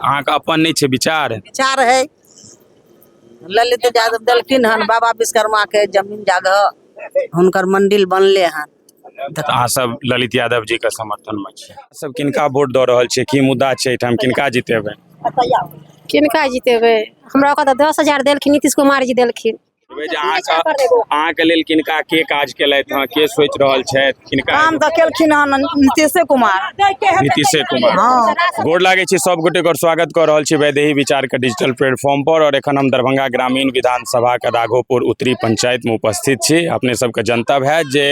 अहाँके अपन नहि छै विचार विचार है ललित यादव देलखिन हन बाबा विश्वकर्मा के जमीन जगह हुनकर मंदिर बनले हन तऽ अहाँ सब ललित यादव जी के समर्थन में छी अहाँ सब किनका वोट दऽ रहल छियै की मुद्दा छै एहिठाम किनका जितेबै किनका जितेबै हमरा ओकर तऽ दस हजार देलखिन नीतीश कुमार जी देलखिन अहाँके लेल किनका के काज केलथि हँ के सोचि रहल छथि किनका काम तऽ केलखिन हँ नीतीशे कुमार नीतीशे कुमार हँ गोर लागै छी सब गोटे गोर स्वागत कऽ रहल छी वैदेही विचार के डिजिटल प्लेटफॉर्म पर और एखन हम दरभंगा ग्रामीण विधानसभा के राघोपुर उत्तरी पंचायत में उपस्थित छी अपने सबके जनता है जे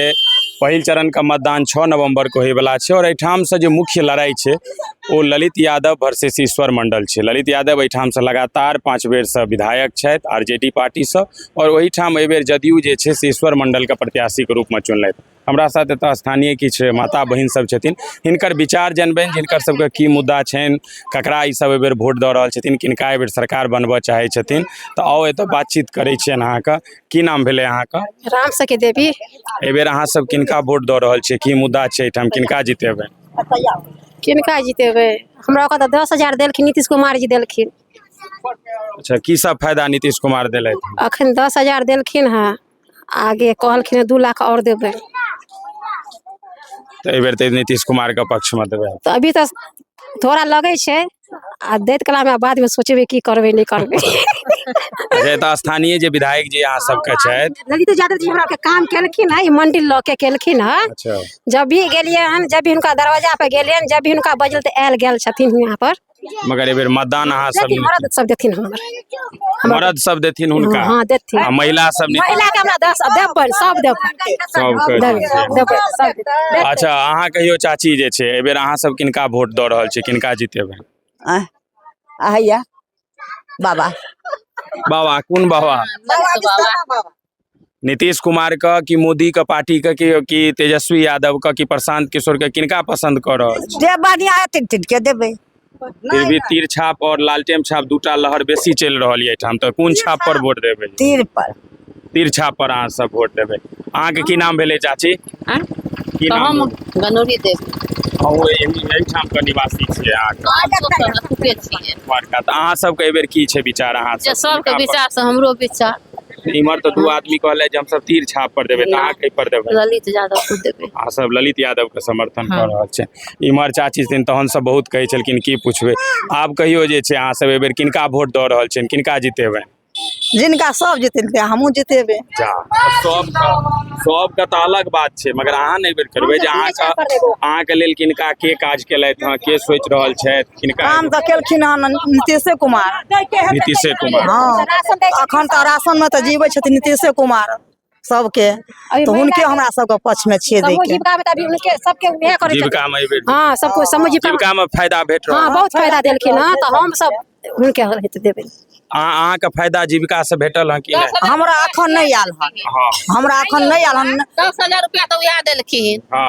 पहिल चरण के मतदान छः नवम्बर के होयवला छै और एहिठाम से जे मुख्य लड़ाई छै ओ ललित यादव वर्सेस ईश्वर मण्डल छै ललित यादव एहिठामसँ लगातार पाँच बेरसँ विधायक छथि आर जे डी पार्टीसँ आओर ओहिठाम एहिबेर जदयू जे छै से ईश्वर मण्डलके प्रत्याशीके रूपमे चुनलथि हमरा साथ एतऽ स्थानीय किछु माता बहिन सब छथिन हिनकर विचार जनबनि जिनकर सबके की मुद्दा छनि ककरा ई सब एहिबेर वोट दऽ रहल छथिन किनका एहिबेर सरकार बनबऽ चाहै छथिन तऽ आउ एतऽ बातचीत करै छियनि अहाँके की नाम भेलै अहाँके राम सखी देवी एहिबेर अहाँ सब किनका वोट दऽ रहल छियै की मुद्दा छै एहिठाम किनका जितेबै किनका जितेबै हमरा ओतऽ तऽ दस हजार देलखिन नीतीश कुमार जी देलखिन अच्छा की सब फायदा नीतीश कुमार देलथि अखन दस हजार देलखिन हँ आगे कहलखिन हँ दू लाख आओर देबै तऽ एहि बेर तऽ नीतीश कुमार के पक्ष मे देबै तऽ अभी तऽ थोड़ा लगै छै आ दैत कलामे बादमे सोचबै की करबै नहि करबै अच्छा एतऽ स्थानीय जे विधायक जी अहाँ सबके छथि ललित यादव जी हमरा के काम केलखिन है ई मंडिल लऽ के केलखिन है अच्छा जब भी गेलियै हन जब भी हुनका दरवाजा पर गेलियै हन जब भी हुनका बजल तऽ आयल गेल छथिन यहाँ पर मगर एहि बेर मतदान अहाँ सब जति मरद सब देथिन हमर हमरा मर्द सब देथिन हुनका हँ देथिन आ महिला सब नीति- महिला के हमरा दस देबै सब देबै सबके देबै देथिन। देबै सब देबै। अच्छा अहाँ कहियो चाची जे छै एहिबेर अहाँ सब किनका वोट दऽ रहल छी किनका जीतेबै आह, आ हैया बाबा बाबा कोन बाबा नीतीश कुमारके कि मोदीके पार्टीके कि कि तेजस्वी यादवके कि प्रशांत किशोरके किनका पसन्द कऽ रहल छी जे बढ़िया हेतै तिनके देबै फिर भी तीर छाप और लालटेम छाप दूटा लहर बेसी चलि रहल यऽ एहिठाम तऽ कोन छाप पर वोट देबै तीर पर तीर छाप पर अहाँ सब वोट देबै अहाँके की नाम भेलै चाची आँय? की तऽ नाम हम भेलै? गनौरी देव अहूँ एहि- एहिठाम के निवासी छियै अहाँ के छियै द्वारका तऽ अहाँ सबके एहिबेर की छै विचार अहाँ जे सबके विचार से हमरो विचार इम्हर तऽ दू आदमी कहले जे हमसब तीर छाप पर देबै तऽ अहाँ कई पर देबै ललित यादव को देबै अहाँ सब ललित यादव के समर्थन कऽ रहल छै इम्हर चाची छथिन तहन सब बहुत कहै छलखिन की पुछबै आब कहियो जे छै अहाँ सब एहिबेर किनका वोट दऽ रहल छियनि किनका जितेबै जिनका सब जितेलकै हमहूँ जितेबै जा सब सबके तऽ अलग बात छै मगर अहाँ नहि बेर करबै जे अहाँके अहाँके लेल किनका के काज केलथि हँ के सोचि रहल छथि किनका काम तऽ केलखिन हन नीतीशे कुमार नीतीशे कुमार हँ अखन तऽ राशन मे तऽ जीवै छथिन नीतीशे कुमार सबके तऽ हुनके हमरा सबके पक्ष मे छियै दै के जीविका मे एबे हँ सब कोई समझ जीविका मे फायदा भेट रहल हँ बहुत फायदा देलखिन हँ तऽ हम सब हुनके हित देबै अहाँ अहाँ के फायदा जीविका से भेटल हँ कि नहि हमरा अखन नहि आयल हन हँ हमरा अखन नहि आयल हन दस हजार रुपया तऽ उएह देलखिन हँ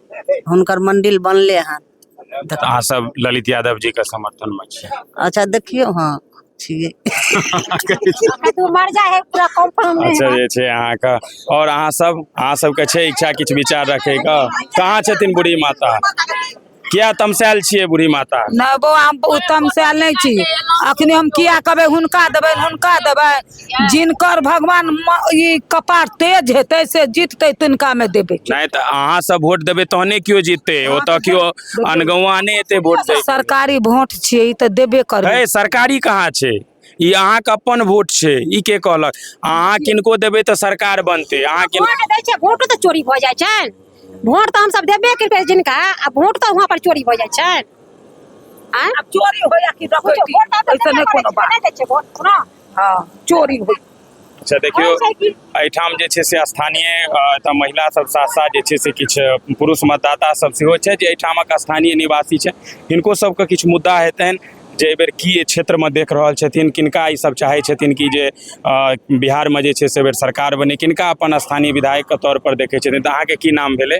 हुनकर मंडिल बनले हन तऽ अहाँ सब ललित यादव जी के समर्थन में छी अच्छा देखियौ हाँ छियै तू मर जा है पूरा कंफर्म नहीं अच्छा जे छै अहाँके और अहाँ सब अहाँ सबके छै इच्छा किछु विचार रखैके कहाँ छथिन बूढ़ी माता किया तमसायल छियै बूढ़ी माता नहि बौआ हम उत्तम से आयल नहि छी अखने हम किया कहबै हुनका देबै हुनका देबै जिनकर भगवान म- ई कपार तेज हेतै से जीततै तिनका में देबै नहि तऽ अहाँ सब वोट देबै तहने केओ जीततै ओतऽ केओ अनगौआ नहि एतै वोट दै सरकारी वोट छियै ई तऽ देबे करबै है सरकारी कहाँ छै ई अहाँके अपन वोट छै ई के कहलक अहाँ किनको देबै तऽ सरकार बनतै अहाँ किन वोट दै छै वोटो तऽ चोरी भऽ जाइ छनि वोट तऽ हमसभ देबे करबै जिनका आ वोट तऽ वहाँ पर चोरी भऽ जाइ छनि आँय? चोरी होया कि वोट तऽ देबे करै छै, नहि दै छै वोट, सुनो। हाँ चोरी हुई अच्छा देखियो एहिठाम जे छै से स्थानीय एतऽ महिला सब साथ साथ जे छै से किछु पुरुष मतदाता सब सेहो छै जे एहिठामक स्थानीय निवासी छै हिनको सबके किछु मुद्दा हेतनि जे एहि बेर की क्षेत्रमे देख रहल छथिन किनका ई सब चाहै छथिन कि जे बिहारमे जे छै से एहि बेर सरकार बने किनका अपन स्थानीय विधायकके तौर पर देखै छथिन तऽ अहाँके की नाम भेलै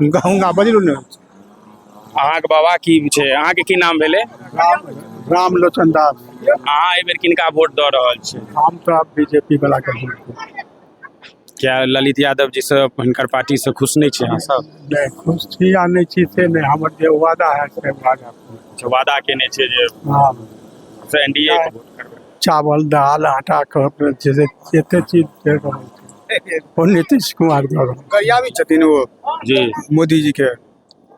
हुनका बजलू ने अहाँके बाबा की छै अहाँके की नाम भेलै राम राम लोचन दास अहाँ एहि बेर किनका वोट दऽ रहल छी हम तो अब बीजेपी वाला के वोट देब। क्या ललित यादव जी से हिनकर पार्टी से खुश नहीं छे अहाँ सब नहीं खुश छी या नहीं छी से नहीं हमर जे वादा है से वादा पूरा। अच्छा, वादा केने छे जे हाँ से एनडीए के वोट करबै चावल दाल आटा कहब जे छै से एते चीज दे रहल छै ओ नीतीश कुमार दऽ रहल गरियाबी छथिन ओ जी मोदी जी के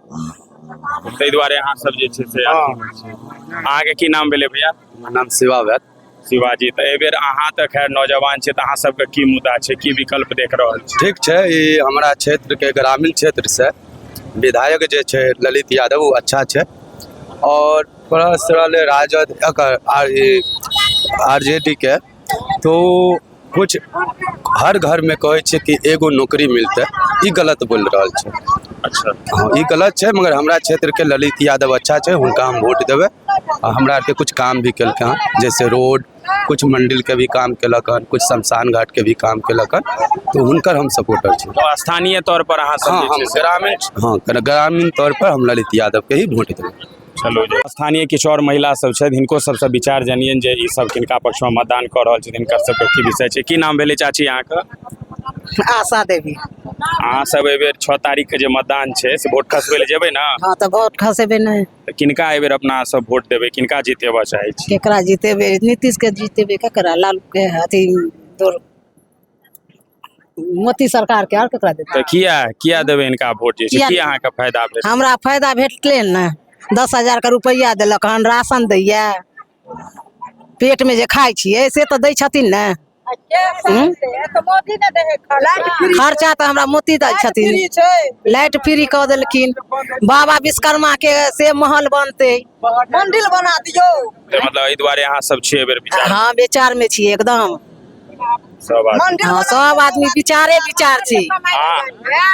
ताहि दुआरे अहाँ सब जे छै से अहाँके की नाम भेलै भैया हमर नाम शिवा भेल शिवाजी तऽ एहि बेर अहाँ तऽ खैर नौजवान छी तऽ अहाँ सबके की मुद्दा छै की विकल्प देख रहल छी ठीक छै ई हमरा क्षेत्रके ग्रामीण क्षेत्रसँ विधायक जे छै ललित यादव ओ अच्छा छै आओर परस्त रहलै राजद एकर R E R J D के तो कुछ हर घरमे कहै छै कि एगो नौकरी मिलतै ई गलत बोलि रहल छै अच्छा हँ, ई गलत छै मगर हमरा क्षेत्रके ललित यादव अच्छा छै हुनका हम वोट देबै आ हमरा आरके कुछ काम भी केलकै हँ जैसे रोड कुछ मंडिलके भी काम केलक हन कुछ शमशान घाटके भी काम केलक हन तो हुनकर हम सपोर्टर छी तो स्थानीय तौर पर अहाँ सब हाँ, जे छै हम से ग्रामीण हँ ग्रामीण तौर पर हम ललित यादवके ही वोट देबै छलहुँ जे स्थानीय किछु आओर महिला सब छथि हिनको सबसँ विचार जानियनि जे ई सब किनका पक्षमे मतदान कऽ रहल छथिन हिनकर सबके की विषय छै की नाम भेलै चाची अहाँके आशा देवी अहाँ सब एहिबेर छओ तारीखके जे मतदान छै से वोट खसबै लए जेबै ने हँ तऽ वोट खसेबे नहि तऽ किनका एहिबेर अपना सब वोट देबै किनका जितेबऽ चाहै छी केकरा जीतेबे नीतीश के जीतेबे केकरा लालू के अथी दोर मोदी सरकारके आओर ककरा देतै तऽ किया किया देबै इनका वोट जे छै किया की देबै? अहाँके फायदा भेल हमरा फायदा भेटलै ने दस हजारके रुपैआ देलक हन राशन दैए पेटमे जे खाइ छियै से तऽ दै छथिन ने हूँ? खर्चा तऽ हमरा मोती दै छथिन लाइट फ्री कऽ देलखिन बाबा विश्वकर्माके से महल बनतै मंदिर बना दियौ तऽ मतलब एहि दुआरे अहाँ सब छियै एहि बेर विचार हँ विचारमे छियै एकदम सब आदमी मंदिर हँ सब आदमी विचारे विचार छै आ-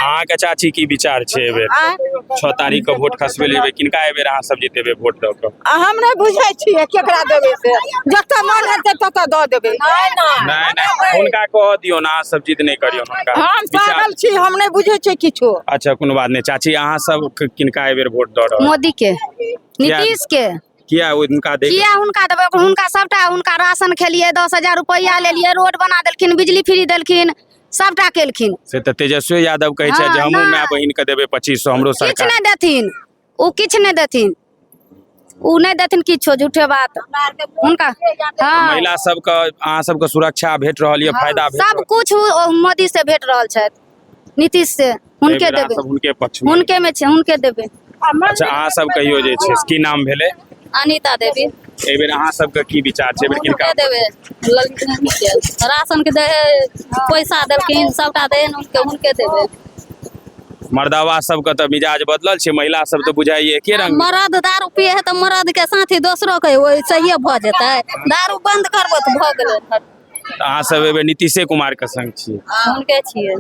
अहाँके चाची की विचार छै एहि बेर आँय? छओ तारीख के वोट खसबे लेबै किनका एहि बेर अहाँ सब जीतेबै वोट दऽ कऽ आ हम नहि बुझै छियै केकरा देबै से जतऽ मन हेतै ततऽ दऽ देबै नहि नहि हुनका कह दियौ ने अहाँ सब जिद नहि करियौ हुनका हम विचार- पागल छी हम नहि बुझै छियै किछो अच्छा कोनो बात नहि चाची अहाँ सब क- किनका एहि बेर वोट दऽ रहल मोदी के नीतीश के किया हुनका दे किया हुनका देबै हुनका सभटा हुनका राशन खेलिए दस हजार रुपैआ लेलिए रोड बना देलखिन बिजली फ्री देलखिन सभटा केलखिन से तऽ तेजस्वी यादव कहै छै जे हाँ, हमहूँ ना। माय बहिन के देबै पच्चीस सौ हमरो किछु सरकार नहि देथिन ओ किछु नहि देथिन ओ नहि देथिन किछो झूठे बात हुनका हाँ महिला सबके अहाँ सबके सुरक्षा भेट रहल यऽ फायदा भेट रहल सब कुछ मोदी से भेट रहल छथि नीतीश से एहि हुनके बेर अहाँ देबै सब हुनके पक्ष मे हुनके मे छै हुनके देबै अच्छा अहाँ सब कहियो जे छै से की नाम भेलै अनिता देवी एहि बेर अहाँ सबके की विचार छै एहि बेर किनका हुनके देबै ललकी के राशन के दे पैसा देलखिन सबटा दे हुनके हुनके देबै मर्दावा सबके तऽ मिजाज बदलल छै महिला सब तऽ बुझाइए एके रंग मरद दारू पिए है तऽ मरद के साथी दोसरो के वैसे भऽ जेतै दारू बंद करबो तऽ भऽ गेलै तऽ अहाँ सब एबे नीतीशे कुमार के संग छियै हुनके छियै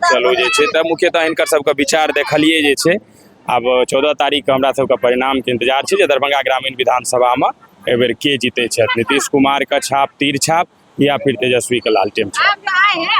चलू जे छै तऽ मुख्यतः हिनकर सबके विचार देखलियै जे छै आब चौदह तारीखके हमरा सबके परिणामके इंतजार छै जे दरभंगा ग्रामीण विधानसभामे एहि बेर के जीतै छथि नीतीश कुमारके छाप तीर छाप या फिर तेजस्वीके लालटेन छाप